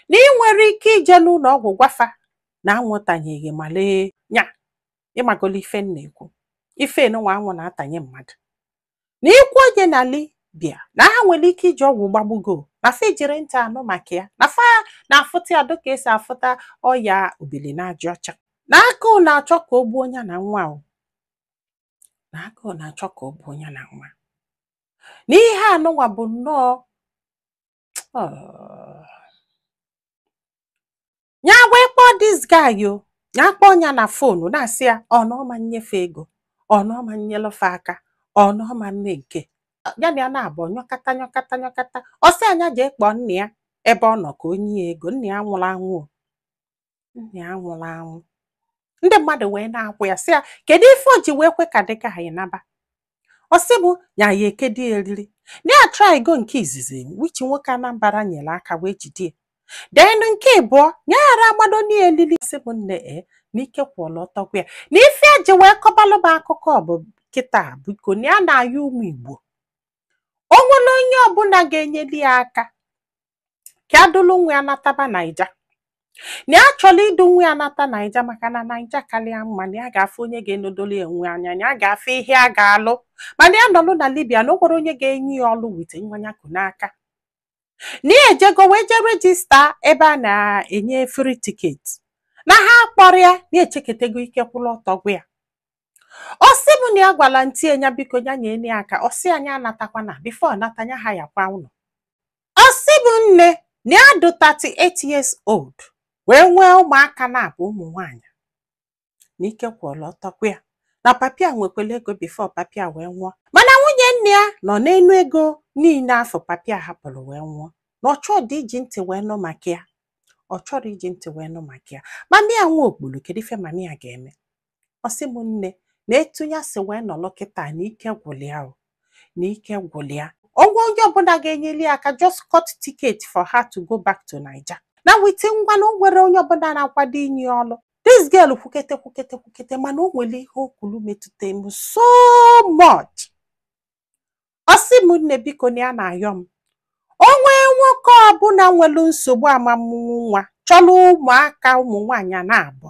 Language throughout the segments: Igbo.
na ị nwere ike ije n'ụlọ ọgwụ gwafa na anwụ tanye gị malaria ịmagolo ife m na-ekwu ife nwa anwụ na-atanye mmadụ na i kwuo nya na libya na ha nwere ike iji ọgwụ gbagbuo gị na fa ejirọ ntị anụ maka ya na fa na-afụta ya dịka esi afụta ọya obili n'aja ọcha na agụụ na-achọ ka o gbuo nya na nwa o na agụụ na-achọ ka o gbuo nya na nwa na ihe anụnwa bụ nnọọ Oh. nya wee kpọọ this guy o nya kpọọ ya na fonu na-asị ya ọ na ọ ma nnye fa ego ọ na ọ ma nnyelụ fa aka ọ na ọ ma mme nke ya na ya naabọ nyọkata nyọkata nyọkata ọ sị ya nya jee kpọọ nna ya ebe ọ nọ ka o nye ya ego nna ya nwụrụ anwụ o. nna ya nwụrụ anwụ ndị mmadụ wee na-agwa ya sị ya kedu ife o ji wee kwe ka the guy naba ọ sị bụ nya ya-ekedi eriri na ya try go nke izizi which nwoke anambra nyere aka wee jide ya then nke ịbụọ na ya ghara agbado n'elili sị bụ nne e na ike kwụlụ ọtọ gwụ ya na ife ya ji wee kọbalụ m akụkọ ọ bụ kịta biko na ya na-ayọ ụmụ igbo o nwere onye ọbụla ga-enyeli ya aka ka ya dulu nwa ya nataba naija na ya chọrọ idu nwa ya nata naija maka na naija karị ya mma na ya ga-afụ onye ga-enedolu ya nwa anya na ya ga-afụ ihe a ga-alụ mana ya nọlụ na libya na o nwerọ onye ga-enye ya ọlụ with nwa nya ku n'aka na ya ejego wee jee rejista ebe a na-enye free ticket na ha akpọrọ ya na echeketego ike kwụrụ ọtọ gwụ ya ọ sị m na ya gwara auntie nya biko ya nyere ya aka ọ sị ya nya anatakwana before ọ nata nya hayakwa ụlọ ọ sị bụ nne na ya dị 38 years old wee nwee ụmụaka naabọ ụmụ nwaanyị na ike kwụlụ ọtọ gwụ ya na papa ya nwekwara ego before papa ya wee nwụọ mana nwunye nna ya nọ n'enu ego niile afụ papa ya hapụrụ wee nwụọ na ọ chọọ dị iji ntị wee nụ maka ya ọ chọrọ iji ntị wee nụ maka ya mami ya nwa okpuru kedu ife mami ya ga-eme ọ sị m nne na etu ya si wee nọrọ kịta na ike gwụrụ ya o na ike gwụrụ ya o nwee onye ọbụla ga-enyeli ya aka just cut ticket for her to go back to Naija na with nwa na o nwerọ onye ọbụla na-akwado inye ya ọrụ this girl kwukete kwukete kwukete mana o nwere ihe o kwuru metụta m so much ọ sị m nne biko na ya na-ayọ m o nwee nwoke ọbụla nwere nsogbu ọmụmụ nwa chọrọ ụmụaka ụmụ nwaanyị naabọ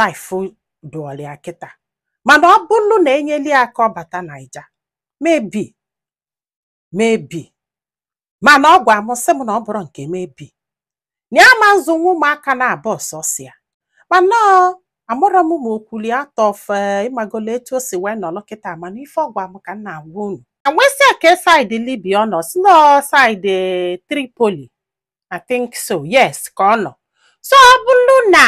life dụọrọ ya kịta mana ọ bụrụ na enyeli ya aka ọ bata naija maybe maybe mana ọ gwa m sị m na ọ bụrọ nke maybe na ya ma nzụnwu ụmụaka naabọ sọsọ ya mana amarọ m ma o kwulu ya out of ịmagola etu o si wee nọrọ kịta mana ife ọ gwa m ka m na-agwa unu m wee sị ya kee side libya ọ nọ ọ sị na side tripoli I think so yes ka ọ nọ so ọ bụrụ na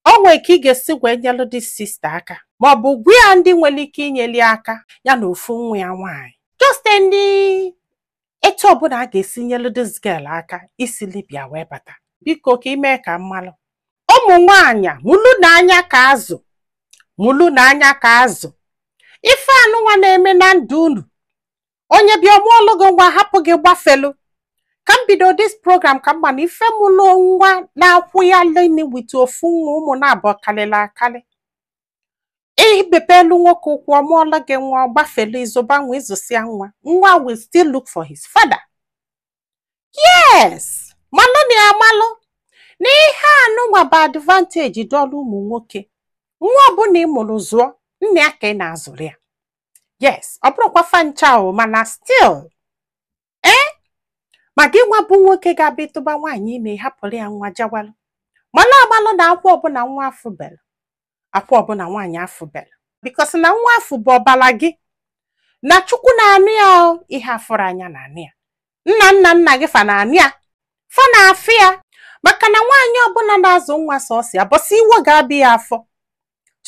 o nwee ka ị ga-esi wee nyelụ dis sista aka ma ọ bụ gwa ya ndị nwere ike inyeli aka ya na ofu nwa ya nwaanyị just ndị etu ọbụla a ga-esi nyelụ dis girl aka isi Libya wee bata biko ka i mee ka m malụ ụmụ nwaanyị mụlụ nụ anya ka azụ mụlụ nụ anya ka azụ ife anụnwa na-eme na ndụ unu onye bịa ọ mụọlụ gị nwa hapụ gị gbafelu ka m bido dis program ka m ma na ife mụlụ nwa na-akwụ ya leni with ofu nwa ụmụ naabọ karịrị akarị i mepelu nwoke ụkwụ ọ mụọlụ gị nwa ọ gbafelu ị zụba nwa ị zụsịa nwa nwa will still look for his father yes malụ nụ ya amalụ na ihe anụnwa bụ advantage dụlụ ụmụ nwoke nwa ọbụla ị mụrụ zụọ nna ya ka ị na-azụrụ ya yes ọ bụrọkwa fa ncha o mana still ee ma gị nwa bụ nwoke ga-abịa ị tụba nwaanyị ime hapụrụ ya nwa jawalụ malụ amalụ na akwa ọbụla nwa afụ bela akwa ọbụla nwaanyị afụ bela because na nwa afụ bụ ọbala gị na Chukwu na-anụ ya o, ihe a fụrọ anya na-anụ ya nna nna nna gị fa na-anụ ya fa na-afụ ya maka na nwaanyị ọbụla na-azụ nwa sọsọ ya bọsị iwe ga-abịa ya afụ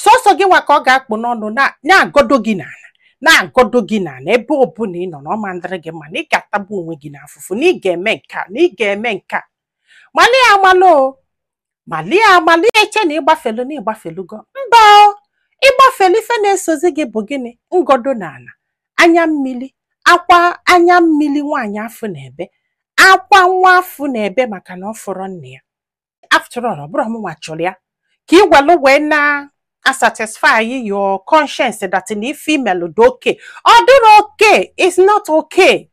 sọsọ gị nwa ka ọ ga-akpụ n'ọnụ na- na-agọdo gị n'ala na-agọdo gị n'ala ebe ọbụla ị nọ na ọ ma ndịrị gị mma na ị ga-atagbu onwe gị n'afụfụ na ị ga-eme nke a na ị ga-eme nke a malụ ya amalụ o malụ ya amalụ i che na ị gbafelu na ị gbafelugo mba o ị gbafelu ife na-esozi gị bụ gịnị ngọdo n'ala anya mmiri akwa anya mmiri nwaanyị afụ na-ebe akwa nwa afụ na-ebe maka na ọ fụrọ nna ya after all ọ bụrọ mụnwa chọrọ ya ka i gwelu wee na-asatisfy your conscience that na ife i melu dị okay ọ dịrọ okay is not okay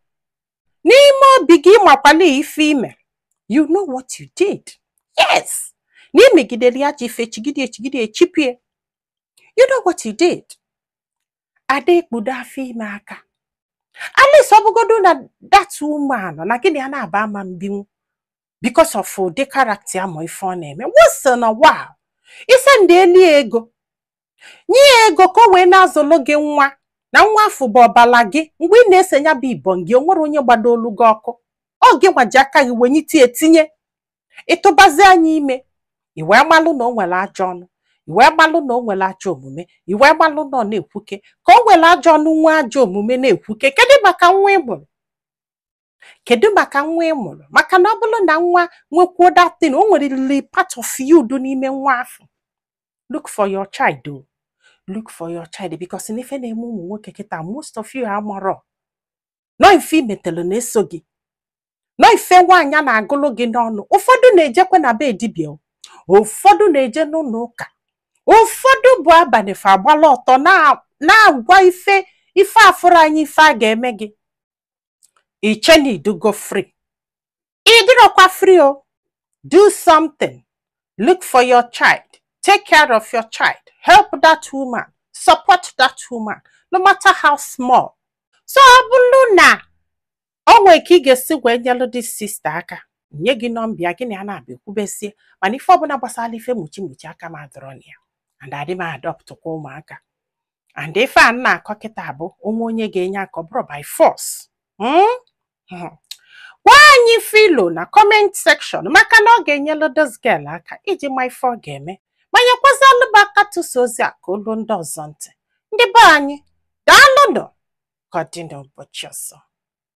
n'ime obi gị ị makwalụ ife i melu you know what you did yes na i megidere ya ji ife chigide echigide echipie you know what you did a da-ekpudo afọ ime aka at least ọ bụgodu na that woman na gị na ya naabọ ama mbinwu because of ụdị character ya ma ife ọ na-eme once in a while ị sendịelụ ya ego nye ya ego ka o wee na-azụlụ gị nwa na nwa afụ bụ ọbala gị mgbe ị na-ese ya bụ ibon gị o nwere onye gbadoolu gị ọkụ ọ gị nwa ji aka gị wenyite ya tinye ị tụbazia nya ime i wee malụ na o nwere ajọ ọnụ i wee malụ na o nwere ajọ omume i wee malụ na ọ na-ekwuke ka o nwere ajọ ọnụ nwee ajọ omume na-ekwuke kedụ maka nwa ị mụrụ kedu maka nwa ị mụrụ maka na ọ bụrụ na nwa nwekwuo datin o nwerịrị part of you dụ n'ime nwa afụ look for your child o look for your child because na ife na-eme ụmụ nwoke kịta most of you amarọ na ọ ife i metelu na-eso gị na ọ ife nwaanyị a na-agụlụ gị n'ọnụ ụfọdụ na-ejekwe na be dibịa o. ụfọdụ na-eje n'ụlọ ụka ụfọdụ bụ abalị fa agbala ọtọ na- na-agwa ife ife a fụrụ anya ife a ga-eme gị i che na ị dụgo free ị dịrọkwa free o do something look for your child take care of your child help that woman support that woman no matter how small so ọ bụrụ na o nwere ka ị ga-esi wee nyelụ this sister aka nye gị nọmba gị na ya na-abịa ekwubesie mana ife ọbụla gbasara ife mụchi mụchi aka m adịrọ na ya and adị m adoptụkwa ụmụaka and ife a na-akọ kịta bụ o nwee onye ga-enye aka ọ bụrọ by force Hmm? Hmm. gwa anyị ife i lo na comment section maka na ọ ga-enyelu this girl aka iji ma ife ọ ga-eme ma nyekwazịalụ m aka tụsa ozi a ka o lu ndị ọzọ ntị ndị be anyị daalụnụ ka ọ dị n'ụbọchị ọzọ